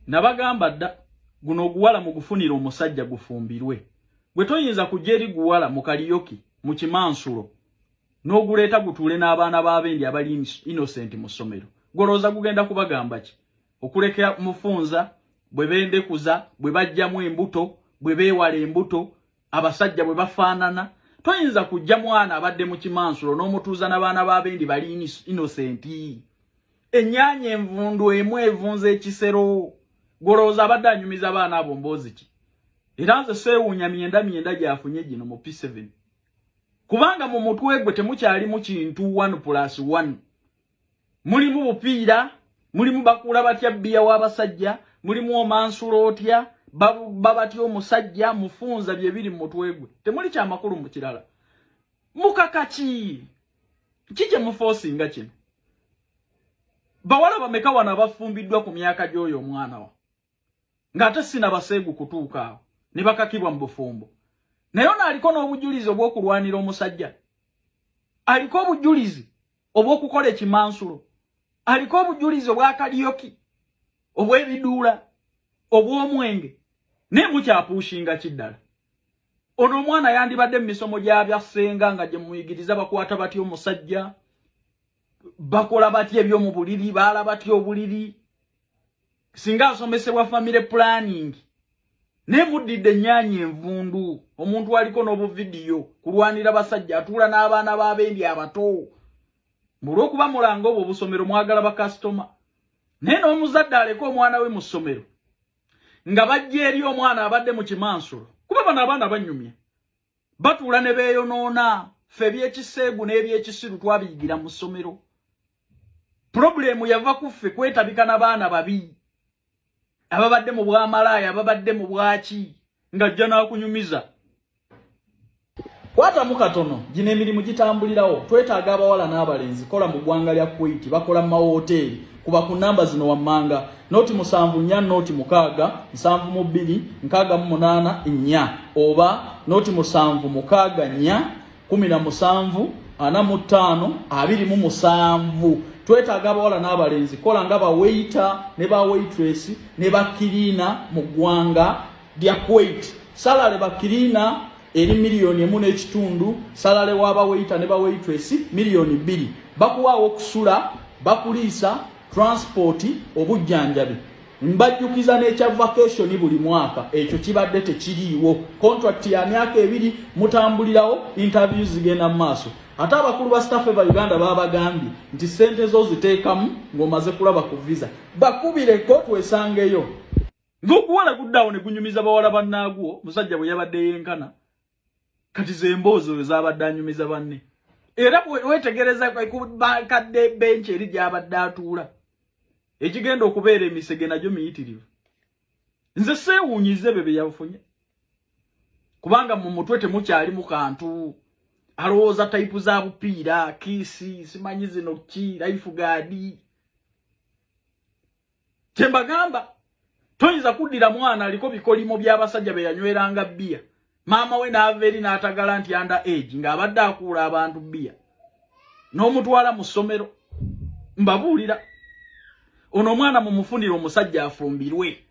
nabagamba dda guno oguwala mugufunira omusajja gufumbirwe gwe toyinza kujja eri guwala mu kaliyoki mu kimansulo n'oguleeta gutuule n'abaana b'abendi abali innocent mu ssomero gwolowooza gugenda kubagamba ki okulekera mufunza bwe bendekuza bwe bajjamu embuto bwe beewala embuto abasajja bwe bafaanana toyinza kujja mwana abadde mu kimansulo n'omutuuza n'abaana b'abendi bali inosenti ennyanya envundu emu evunza ekisero gwolowooza abadde anyumiza abaana abo mboozi ki era nze seewuunya myenda myenda gyafunye gino mu p7 kubanga mu mutwe gwe temukyalimu kintu 1 plus 1 mulimu bupiira mulimu bakuula batya bbiya w'abasajja mulimu omansula otya babuba batya omusajja mufunza bye biri mu mutwe gwe temuli kya makulu mu kirala mukaka ki ki kye mufoosinga kino bawala bameka wano abafumbiddwa ku myaka gy'oyo omwana wa ng'ate sina baseegu kutuuka awo ne bakakibwa mu bufumbo naye ono aliko n'obujulizi obw'okulwanira omusajja aliko obujulizi obw'okukola ekimansulo aliko obujulizi obw'akaliyoki obw'ebiduula obw'omwenge naye mukyapuushinga ki ddala ono omwana yandibadde mu misomo gyabya ssenga nga gye muyigiriza bakwata batya omusajja bakola batya ebyomu buliri baala batya obuliri singa asomesebwa family planning naye muddidde ennyanya envundu omuntu aliko n'obuvidiyo kulwanira basajja atuula n'abaana b'abendi abato mulwokuba mulanga obwo obusomero mwagala bakasitoma naye n'omuzadde aleka omwana we mu ssomero nga bajja eri omwana abadde mu kimansulo kuba bano abaana banyumya batuula ne beeyonoona ffe ebyekiseegu n'ebyekisiru twabiyigira mu ssomero purobulemu yava ku ffe kwetabika na baana babi ababadde mu bwamalaaya ababadde mu bwaki ng'ajja n'akunyumiza kwatamu katono gino emirimu gitambulirawo twetaaga abawala n'abalenzi kola mu ggwanga lya kuwaiti bakola mu mawooteeri kuba ku namba zino wammanga noti musanvu nnya noti mukaaga nsanvu mu bbiri nkaaga mu munaana nnya oba noti musanvu mukaaga nnya kumi na musanvu ana mu ttaano abiri mu musanvu twetaaga abawala n'abalenzi kola nga baweyita ne baweitresi ne bakiriina mu ggwanga lya kuwait salale bakiriina eri miliyoni emu n'ekitundu salale wa baweyita ne baweyitwesi miliyoni bbiri bakuwaawo okusula bakuliisa transipooti obujjanjabi mbajjukiza n'ekya vakationi buli mwaka ekyo kibadde tekiriiwo kontrakiti ya myaka ebiri mutambulirawo intaviyu zigenda mu maaso ate abakulu ba staff eva uganda babagambye nti sente zo ziteekamu ng'omaze kulaba ku visa bakubireko twesangeyo Ngokuwala kudawo ne kunyumiza bawala bannaagwo musajja bwe yabadde yenkana kati ze mboozi oyo zaabadde anyumiza banne era wetegereza kubakadde benki eri gyabadde atuula ekigenda okubeera emisege nagyo miyitirivu nze seewunyize byo bye yafunye kubanga mu mutwe temukyali mu kantu alowooza tayipu za bupiira kiisi simanyi zino ki laifu gaadi kyembagamba toyinza kuddira mwana aliko bikolimo by'abasajja be yanyweranga bbiya maama we n'ava eri n'atagala nti under age ng'abadde akuula abantu bbiya n'omutwala mu ssomero mbabuulira ono omwana mumufunire omusajja afumbirwe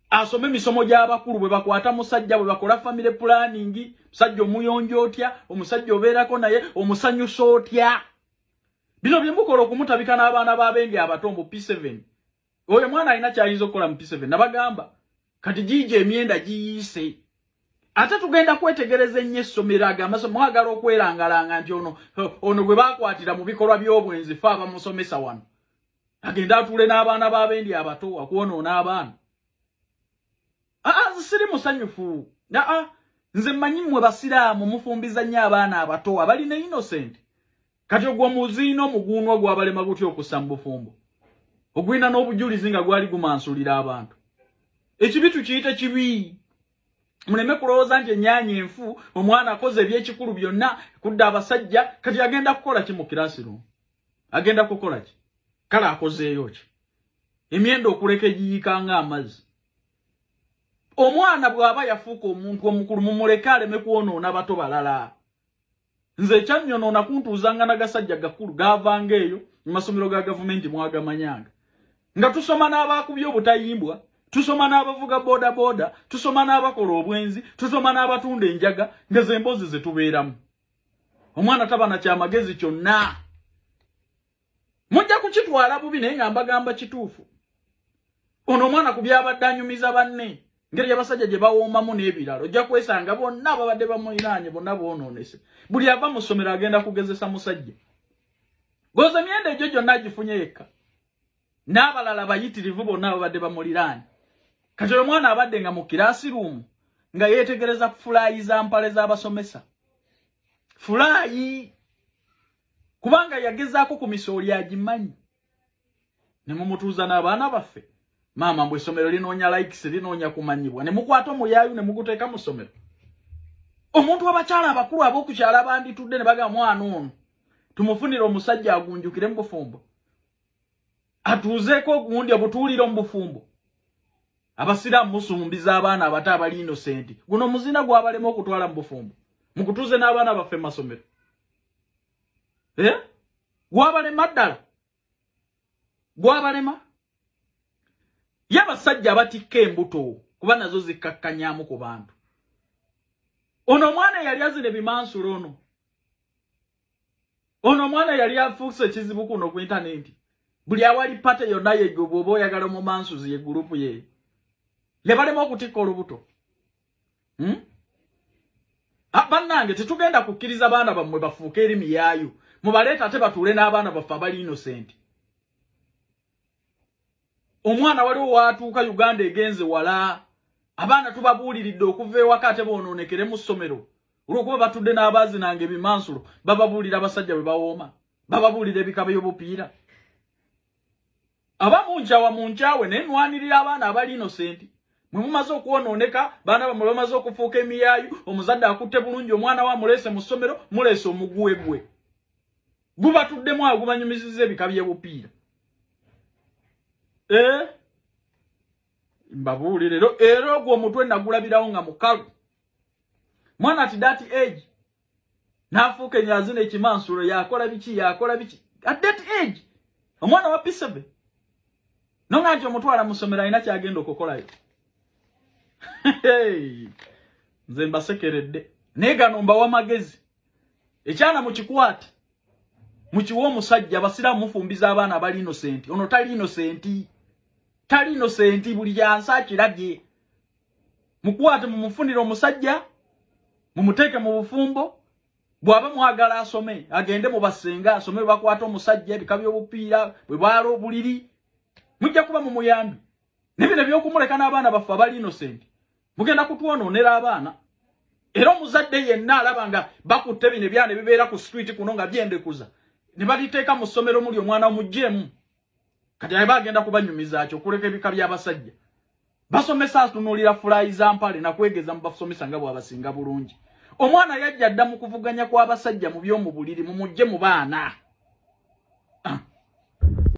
asome emisomo gy'abakulu bwe bakwata musajja bwe bakola famire pulaningi musajja omuyonja otya omusajja obeerako naye omusanyusa otya bino byemukola okumutabika n'abaana b'abendi abato mbu p7 oyo mwana alina kyayinza okukola mu p7 nabagamba kati giija emyenda giyiise ate tugenda kwetegereza ennyo essomero ago amaso mwagala okwerangalanga nti ono ono gwe bakwatira mu bikolwa by'obwenzi fe abamusomesa wano agende atuule n'abaana b'abendi abato akwonoona abaana aa siri musanyufu aa nze manyi mwe basiraamu mufumbiza nnyo abaana abato abali ne innocent kati ogwo muziina omuguunwa gwabalema gutya okussa mu bufumbo ogwina n'obujulizi nga gwali gumansulira abantu ekibi tukiyite kibi muleme kulowooza nti ennyanya enfu omwana akoze ebyekikulu byonna kudda abasajja kati agenda kukola ki mu kirasi lumu agenda kukola ki kale akozeeyo ki emyenda okuleka egiyika nga amazzi omwana bw'aba yafuuka omuntu omukulu mumuleke aleme kwonoona bato balala nze ekyannyonoona kuntuuzanga nagasajja gakulu gaavanga eyo mu masomero ga gavumenti mwagamanyanga nga tusoma n'abaakubye obutayimbwa tusoma n'abavuga boodabooda tusoma n'abakola obwenzi tusoma n'abatunda enjaga nga ze mboozi ze tubeeramu omwana taba na kyamagezi kyonna mujja kukitwala bubi naye nga mbagamba kituufu ono omwana ku byabadde anyumiza banne ngeri yabasajja gye bawoomamu n'ebirala ojja kwesanga bonna ababadde bamulinaanye bonna boonoonese buli ava mu ssomero agenda kugezesa musajja goza emyenda egyo gyonna agifunye yekka n'abalala bayitirivu bonna ababadde bamuliraanye kati oyo omwana abadde nga mu kiraasi ruumu nga yeetegereza fulaayi za mpale z'abasomesa fulaayi kubanga yagezaako ku misooli agimanyi ne mumutuuza n'abaana baffe maama mbu essomero linoonya likes linoonya kumanyibwa ne mukwata omuyaayu ne muguteeka mu ssomero omuntu abakyala abakulu ab'okukyala banditudde ne baga mwana ono tumufunire omusajja agunjukire mu bufumbo atuuzeeko ogundi obutuulire mu bufumbo abasiraamu musumbiza abaana abato abali inosenti guno muzina gwabalema okutwala mu bufumbo mukutuuze n'abaana baffe mu masomero eh? gwabalema ddala gwabalema ye abasajja abatikka embuto kuba nazo zikkakkanyamu ku bantu ono omwana yali azina ebimansula ono ono omwana yali afuuse ekizibu kuno ku intanenti buli awali pate yonna yegwe bwoba oyagala omumansuzi ye gurupu ye yabalema okutikka olubuto hmm? Ah, bannange tetugenda kukkiriza baana bammwe bafuuke eri miyaayu mubaleeta ate batuule n'abaana baffe abali innocent omwana waliwo waatuuka uganda egenze wala abaana tubabuuliridde okuva ewaka ate boonoonekere mu ssomero olwokuba batudde n'abaazi nange ebimansulo bababuulira abasajja bwe bawooma bababuulira ebika by'obupiira aba munjawa munjawe naye nwanirira abaana abali innocent mwe mumaze okwonooneka baana bamwe bamaze okufuuka emiyaayu omuzadde akutte bulungi omwana wa muleese mu ssomero muleese omuguwe gwe gubatuddemu awo gubanyumiziza ebika by'ebupiira eh? mbabuulire era ogwo omutwe nagulabirawo nga mukalu mwana ati dati age n'afuuka enyazi n'ekimansulo yakola biki yakola biki at that age omwana wa pisebe no nga nti omutwala mu ssomero alina kyagenda okukolayo nze mbasekeredde naye gano mbawa magezi ekyana mukikwate mukiwa omusajja abasiraamu mufumbiza abaana abali inosenti ono tali inosenti tali inosenti buli yansi akirabye mukwate mumufunire omusajja mumuteeke mu bufumbo bwaba mwagala asome agende mu basenga asome bakwata omusajja ebika by'obupiira bwe baala obuliri mujja kuba mu muyambi nebino ebyokumuleka n'abaana baffe abali innocent mugenda kutwonoonera abaana era omuzadde yenna alaba nga bakutte bino ebyana ebibeera ku street kuno nga byendekuza ne baliteeka mu ssomero muli omwana omuggyemu kati aye bagenda kubanyumizaaki okuleka ebika by'abasajja basomesa atunuulira fulayi za mpale nakwegeza mu basomesa nga bwabasinga bulungi omwana yajja adda mu kuvuganya kw'abasajja mu by'omu buliri mumujje mu baana ah.